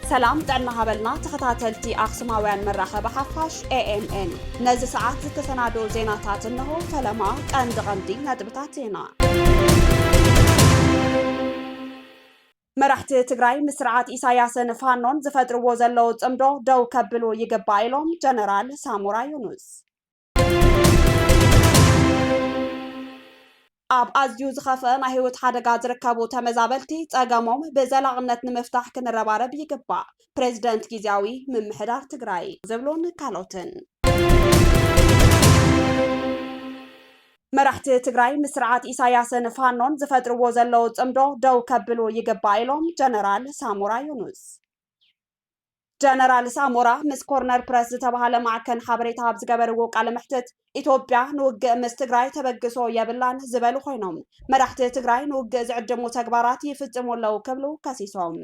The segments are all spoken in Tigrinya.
ሰላም ጥዕና ሃበልና ተኸታተልቲ ኣኽሱማውያን መራኸቢ ሓፋሽ ኤኤምኤን ነዚ ሰዓት ዝተሰናዶ ዜናታት እንሆ። ፈለማ ቀንዲ ቀንዲ ነጥብታት ዜና መራሕቲ ትግራይ ምስ ስርዓት ኢሳያስን ፋኖን ዝፈጥርዎ ዘለዉ ፅምዶ ደው ከብሉ ይግባእ ኢሎም ጀነራል ሳሞራ ዮኑስ። ኣብ ኣዝዩ ዝኸፍአ ናይ ህይወት ሓደጋ ዝርከቡ ተመዛበልቲ ፀገሞም ብዘላቕነት ንምፍታሕ ክንረባረብ ይግባእ ፕሬዝደንት ጊዜያዊ ምምሕዳር ትግራይ ዝብሉን ካልኦትን መራሕቲ ትግራይ ምስ ስርዓት ኢሳያስን ፋኖን ዝፈጥርዎ ዘለዉ ፅምዶ ደው ከብሉ ይግባእ ኢሎም ጀነራል ሳሞራ ዮኑስ። ጀነራል ሳሞራ ምስ ኮርነር ፕረስ ዝተባሃለ ማዕከን ሓበሬታ ኣብ ዝገበርዎ ቃለ መሕትት ኢትዮጵያ ንውግእ ምስ ትግራይ ተበግሶ የብላን ዝበሉ ኮይኖም መራሕቲ ትግራይ ንውግእ ዝዕድሙ ተግባራት ይፍፅሙ ኣለዉ ክብሉ ከሲሶም።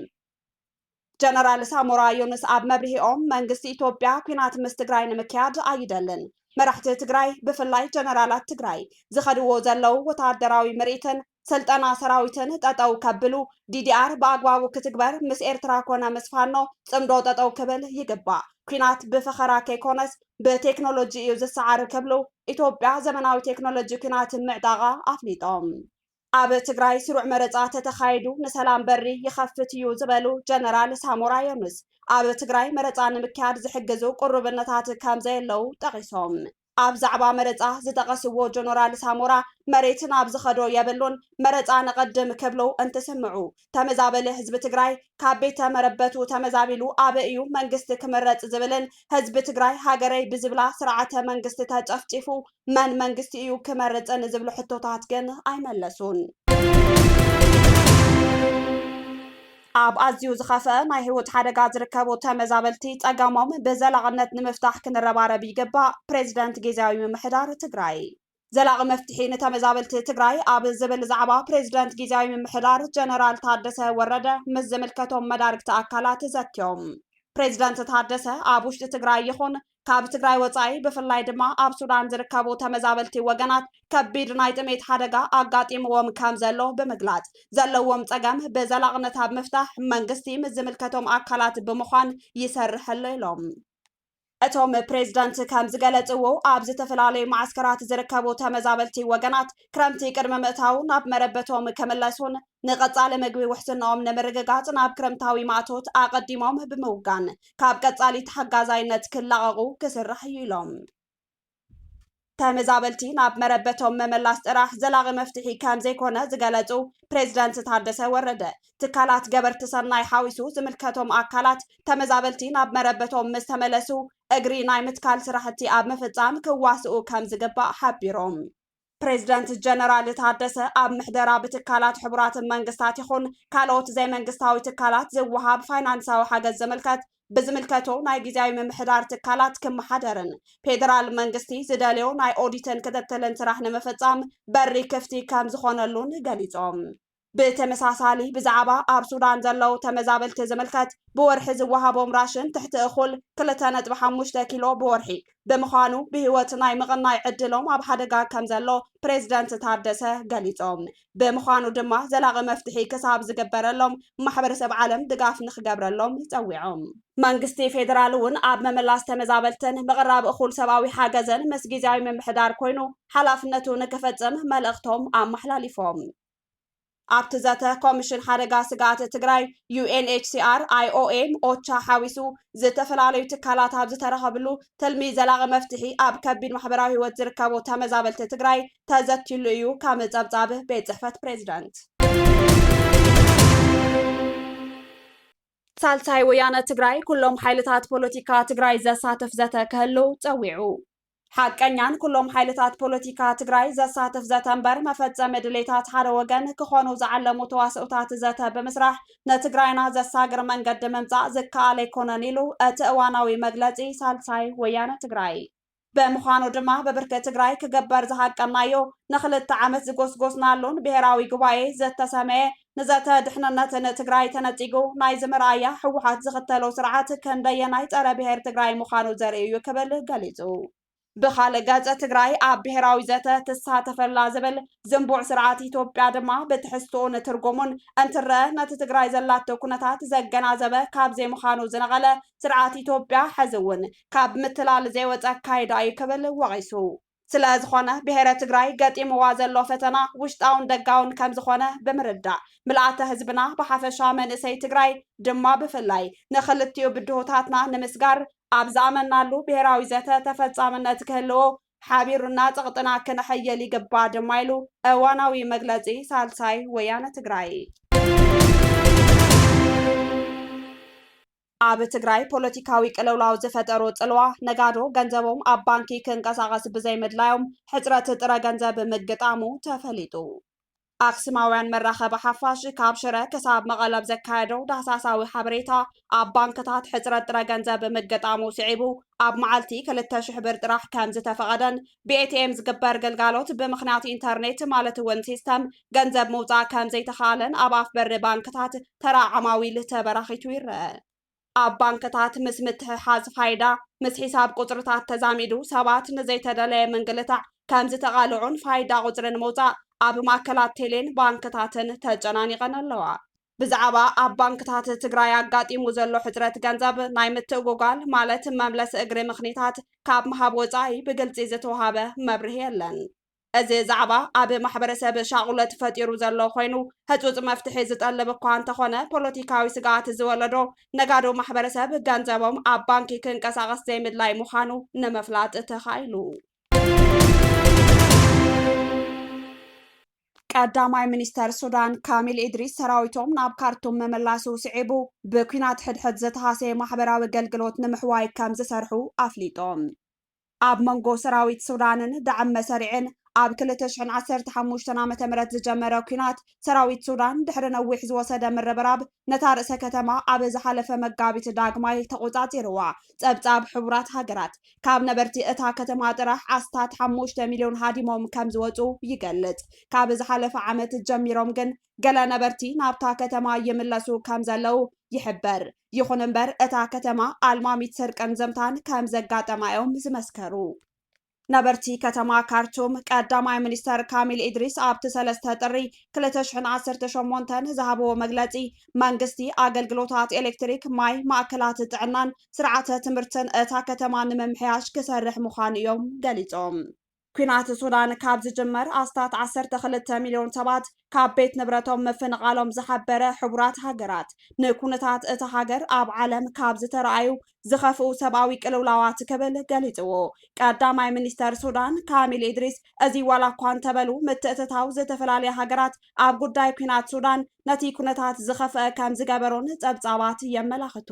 ጀነራል ሳሞራ ዮኑስ ኣብ መብርሂኦም መንግስቲ ኢትዮጵያ ኩናት ምስ ትግራይ ንምክያድ ኣይደልን፣ መራሕቲ ትግራይ ብፍላይ ጀነራላት ትግራይ ዝኸድዎ ዘለዉ ወታደራዊ ምርኢትን ስልጠና ሰራዊትን ጠጠው ከብሉ፣ ዲዲኣር ብኣግባቡ ክትግበር፣ ምስ ኤርትራ ኮነ ምስ ፋኖ ጽምዶ ጠጠው ክብል ይግባእ፣ ኩናት ብፈኸራ ከይኮነስ ብቴክኖሎጂ እዩ ዝሰዓር ክብሉ ኢትዮጵያ ዘመናዊ ቴክኖሎጂ ኩናት ምዕጣቓ ኣፍሊጦም። ኣብ ትግራይ ስሩዕ መረፃ ተተኻይዱ ንሰላም በሪ ይኸፍት እዩ ዝበሉ ጀነራል ሳሞራ የኑስ ኣብ ትግራይ መረፃ ንምክያድ ዝሕግዙ ቅሩብነታት ከምዘየለው ጠቒሶም። ኣብ ዛዕባ መረፃ ዝጠቐስዎ ጀነራል ሳሞራ መሬት ናብ ዝኸዶ የብሉን መረፃ ነቐድም ክብሉ እንትስምዑ ተመዛበሊ ህዝቢ ትግራይ ካብ ቤተ መረበቱ ተመዛቢሉ ኣበይ እዩ መንግስቲ ክምረፅ ዝብልን ህዝቢ ትግራይ ሃገረይ ብዝብላ ስርዓተ መንግስቲ ተጨፍጪፉ መን መንግስቲ እዩ ክመርፅን ዝብሉ ሕቶታት ግን ኣይመለሱን። ኣብ ኣዝዩ ዝኸፍአ ናይ ህይወት ሓደጋ ዝርከቡ ተመዛበልቲ ጸገሞም ብዘላቕነት ንምፍታሕ ክንረባረብ ይግባእ፣ ፕሬዚደንት ጊዜያዊ ምምሕዳር ትግራይ። ዘላቒ መፍትሒ ንተመዛበልቲ ትግራይ ኣብ ዝብል ዛዕባ ፕሬዚደንት ጊዜያዊ ምምሕዳር ጀነራል ታደሰ ወረደ ምስ ዝምልከቶም መዳርግቲ ኣካላት ዘትዮም። ፕሬዚደንት ታደሰ ኣብ ውሽጢ ትግራይ ይኹን ካብ ትግራይ ወፃኢ ብፍላይ ድማ ኣብ ሱዳን ዝርከቡ ተመዛበልቲ ወገናት ከቢድ ናይ ጥሜት ሓደጋ ኣጋጢምዎም ከም ዘሎ ብምግላፅ ዘለዎም ፀገም ብዘላቕነት ኣብ ምፍታሕ መንግስቲ ምስ ዝምልከቶም ኣካላት ብምዃን ይሰርሕ ኣሎ ኢሎም። እቶም ፕሬዝዳንት ከምዝገለፅዎ ኣብ ዝተፈላለዩ መዓስከራት ዝርከቡ ተመዛበልቲ ወገናት ክረምቲ ቅድሚ ምእታው ናብ መረበቶም ክምለሱን ንቀፃሊ ምግቢ ውሕስናኦም ንምርግጋፅ ናብ ክረምታዊ ማእቶት ኣቐዲሞም ብምውጋን ካብ ቀፃሊ ተሓጋዛይነት ክላቐቑ ክስራሕ እዩ ኢሎም። ተመዛበልቲ ናብ መረበቶም መመላስ ጥራሕ ዘላቒ መፍትሒ ከምዘይኮነ ዝገለፁ ፕሬዝደንት ታደሰ ወረደ ትካላት ገበርቲ ሰናይ ሓዊሱ ዝምልከቶም ኣካላት ተመዛበልቲ ናብ መረበቶም ምስ ተመለሱ እግሪ ናይ ምትካል ስራሕቲ ኣብ ምፍፃም ክዋስኡ ከምዝግባእ ሓቢሮም። ፕሬዚደንት ጀነራል ታደሰ ኣብ ምሕደራ ብትካላት ሕቡራት መንግስታት ይኹን ካልኦት ዘይመንግስታዊ ትካላት ዝወሃብ ፋይናንሳዊ ሓገዝ ዝምልከት ብዝምልከቶ ናይ ግዜያዊ ምምሕዳር ትካላት ክመሓደርን ፌዴራል መንግስቲ ዝደልዮ ናይ ኦዲትን ክትትልን ስራሕ ንምፍፃም በሪ ክፍቲ ከምዝኾነሉን ገሊፆም። ብተመሳሳሊ ብዛዕባ ኣብ ሱዳን ዘለዉ ተመዛበልቲ ዝምልከት ብወርሒ ዝወሃቦም ራሽን ትሕቲ እኹል ክልተ ነጥቢ ሓሙሽተ ኪሎ ብወርሒ ብምዃኑ ብህይወት ናይ ምቕናይ ዕድሎም ኣብ ሓደጋ ከም ዘሎ ፕሬዝደንት ታደሰ ገሊፆም። ብምዃኑ ድማ ዘላቒ መፍትሒ ክሳብ ዝግበረሎም ማሕበረሰብ ዓለም ድጋፍ ንክገብረሎም ፀዊዖም። መንግስቲ ፌዴራል እውን ኣብ ምምላስ ተመዛበልትን ምቕራብ እኹል ሰብኣዊ ሓገዝን ምስ ጊዚያዊ ምምሕዳር ኮይኑ ሓላፍነቱ ንክፍፅም መልእኽቶም ኣመሓላሊፎም። ኣብቲ ዘተ ኮሚሽን ሓደጋ ስግኣት ትግራይ፣ ዩኤንኤችሲኣር፣ ኣይኦኤም፣ ኦቻ ሓዊሱ ዝተፈላለዩ ትካላት ኣብ ዝተረኸብሉ ትልሚ ዘላቒ መፍትሒ ኣብ ከቢድ ማሕበራዊ ህይወት ዝርከቡ ተመዛበልቲ ትግራይ ተዘትዩሉ እዩ ከም ፀብፃብ ቤት ፅሕፈት ፕሬዚደንት። ሳልሳይ ወያነ ትግራይ ኩሎም ሓይልታት ፖለቲካ ትግራይ ዘሳትፍ ዘተ ክህሉ ፀዊዑ። ሓቀኛን ኩሎም ሓይልታት ፖለቲካ ትግራይ ዘሳትፍ ዘተ እምበር መፈፀሚ ድሌታት ሓደ ወገን ክኾኑ ዝዓለሙ ተዋስኦታት ዘተ ብምስራሕ ንትግራይና ዘሳግር መንገዲ ምምፃእ ዝከኣል ኣይኮነን ኢሉ እቲ እዋናዊ መግለፂ ሳልሳይ ወያነ ትግራይ። ብምዃኑ ድማ ብብርኪ ትግራይ ክግበር ዝሃቀናዮ ንክልተ ዓመት ዝጎስጎስናሉን ብሄራዊ ጉባኤ ዝተሰመየ ንዘተ ድሕንነት ን ትግራይ ተነጺጉ ናይ ዝመርኣያ ህወሓት ዝኽተሎ ስርዓት ክንደየናይ ጸረ ብሄር ትግራይ ምዃኑ ዘርኢ እዩ ክብል ገሊጹ። ብኻልእ ገጽ ትግራይ ኣብ ብሄራዊ ዘተ ትሳተፈላ ዝብል ዝንቡዕ ስርዓት ኢትዮጵያ ድማ ብትሕዝትኡን ትርጉሙን እንትረኣ ነቲ ትግራይ ዘላቶ ኩነታት ዘገናዘበ ካብ ዘይምዃኑ ዝነቐለ ስርዓት ኢትዮጵያ ሕዚ እውን ካብ ምትላል ዘይወጸ ኣካይዳ እዩ ክብል ወቒሱ። ስለ ዝኾነ ብሄረ ትግራይ ገጢምዋ ዘሎ ፈተና ውሽጣውን ደጋውን ከም ዝኾነ ብምርዳእ ምልኣተ ህዝብና ብሓፈሻ መንእሰይ ትግራይ ድማ ብፍላይ ንኽልቲኡ ብድሆታትና ንምስጋር ኣብ ዝኣመንናሉ ብሄራዊ ዘተ ተፈፃምነት ክህልዎ ሓቢሩና ፀቕጥና ክነሐይል ይግባእ ድማ ኢሉ እዋናዊ መግለፂ ሳልሳይ ወያነ ትግራይ። ኣብ ትግራይ ፖለቲካዊ ቅልውላው ዝፈጠሮ ጽልዋ፣ ነጋዶ ገንዘቦም ኣብ ባንኪ ክንቀሳቐስ ብዘይምድላዮም ሕጽረት ጥረ ገንዘብ ምግጣሙ ተፈሊጡ። ኣክስማውያን መራኸቢ ሓፋሽ ካብ ሽረ ክሳብ መቐለ ብ ዘካየዶ ዳህሳሳዊ ሓበሬታ፣ ኣብ ባንክታት ሕጽረት ጥረ ገንዘብ ምግጣሙ ስዒቡ፣ ኣብ መዓልቲ ክልተ ሽሕ ብር ጥራሕ ከምዝተፈቐደን፣ ብኤቲኤም ዝግበር ግልጋሎት ብምኽንያት ኢንተርኔት ማለት እውን ሲስተም ገንዘብ ምውፃእ ከምዘይተኻኣለን ኣብ ኣፍ በሪ ባንክታት ተራ ዓማዊል ተበራኺቱ ይረአ። ኣብ ባንክታት ምስ ምትሕሓዝ ፋይዳ ምስ ሒሳብ ቁፅርታት ተዛሚዱ ሰባት ንዘይተደለየ ምንግልታዕ ከምዝተቓልዑን ፋይዳ ቁፅሪ ንምውፃእ ኣብ ማእከላት ቴሌን ባንክታትን ተጨናኒቐን ኣለዋ። ብዛዕባ ኣብ ባንክታት ትግራይ ኣጋጢሙ ዘሎ ሕፅረት ገንዘብ ናይ ምትእጉጓል ማለት መምለሲ እግሪ ምኽኒታት ካብ ምሃብ ወፃኢ ብግልፂ ዝተውሃበ መብርሂ የለን። እዚ ዛዕባ ኣብ ማሕበረሰብ ሻቑለት ፈጢሩ ዘሎ ኾይኑ ህፁፅ መፍትሒ ዝጠልብ እኳ እንተኾነ ፖለቲካዊ ስግኣት ዝወለዶ ነጋዶ ማሕበረሰብ ገንዘቦም ኣብ ባንኪ ክንቀሳቐስ ዘይምድላይ ምዃኑ ንምፍላጥ ተኻኢሉ። ቀዳማይ ሚኒስተር ሱዳን ካሚል ኢድሪስ ሰራዊቶም ናብ ካርቱም ምምላሱ ስዒቡ ብኲናት ሕድሕድ ዝተሃሰየ ማሕበራዊ ኣገልግሎት ንምሕዋይ ከም ዝሰርሑ ኣፍሊጦም። ኣብ መንጎ ሰራዊት ሱዳንን ዳዕም መሰሪዕን ኣብ ክልተ ሽሕን ዓሰርተ ሓሙሽተን ዓመተ ምህረት ዝጀመረ ኲናት፣ ሰራዊት ሱዳን ድሕሪ ነዊሕ ዝወሰደ ምርብራብ ነታ ርእሰ ከተማ ኣብ ዝሓለፈ መጋቢት ዳግማይ ተቖጻጺርዋ። ጸብጻብ ሕቡራት ሃገራት። ካብ ነበርቲ እታ ከተማ ጥራሕ ኣስታት ሓሙሽተ ሚልዮን ሃዲሞም ከምዝወጹ ይገልጽ። ካብ ዝሓለፈ ዓመት ጀሚሮም ግን ገለ ነበርቲ ናብታ ከተማ ይምለሱ ከምዘለዉ ይሕበር። ይኹን እምበር እታ ከተማ ኣልማሚት ስርቅን ዘምታን ከምዘጋጠማ'ዮም ዝመስከሩ። ነበርቲ ከተማ ካርቱም ቀዳማይ ሚኒስተር ካሚል ኢድሪስ ኣብቲ ሰለስተ ጥሪ ክልተ ሽሕን ዓሰርተ ሸሞንተን ዝሃብዎ መግለጺ መንግስቲ ኣገልግሎታት ኤሌክትሪክ፣ ማይ፣ ማእከላት ጥዕናን ስርዓተ ትምህርትን እታ ከተማን ንምምሕያሽ ክሰርሕ ምዃኑ እዮም ገሊፆም። ኲናት ሱዳን ካብ ዝጅመር ኣስታት ዓሰርተ ክልተ ሚልዮን ሰባት ካብ ቤት ንብረቶም ምፍንቓሎም ዝሓበረ ሕቡራት ሃገራት፣ ንኩነታት እታ ሃገር ኣብ ዓለም ካብ ዝተርኣዩ ዝኸፍኡ ሰብኣዊ ቅልውላዋት ክብል ገሊፅዎ። ቀዳማይ ሚኒስተር ሱዳን ካሚል ኢድሪስ እዚ ዋላ እኳ እንተበሉ፣ ምትእትታው ዝተፈላለያ ሃገራት ኣብ ጉዳይ ኲናት ሱዳን ነቲ ኩነታት ዝኸፍኣ ከምዝገበሮን ጸብጻባት የመላኽቱ።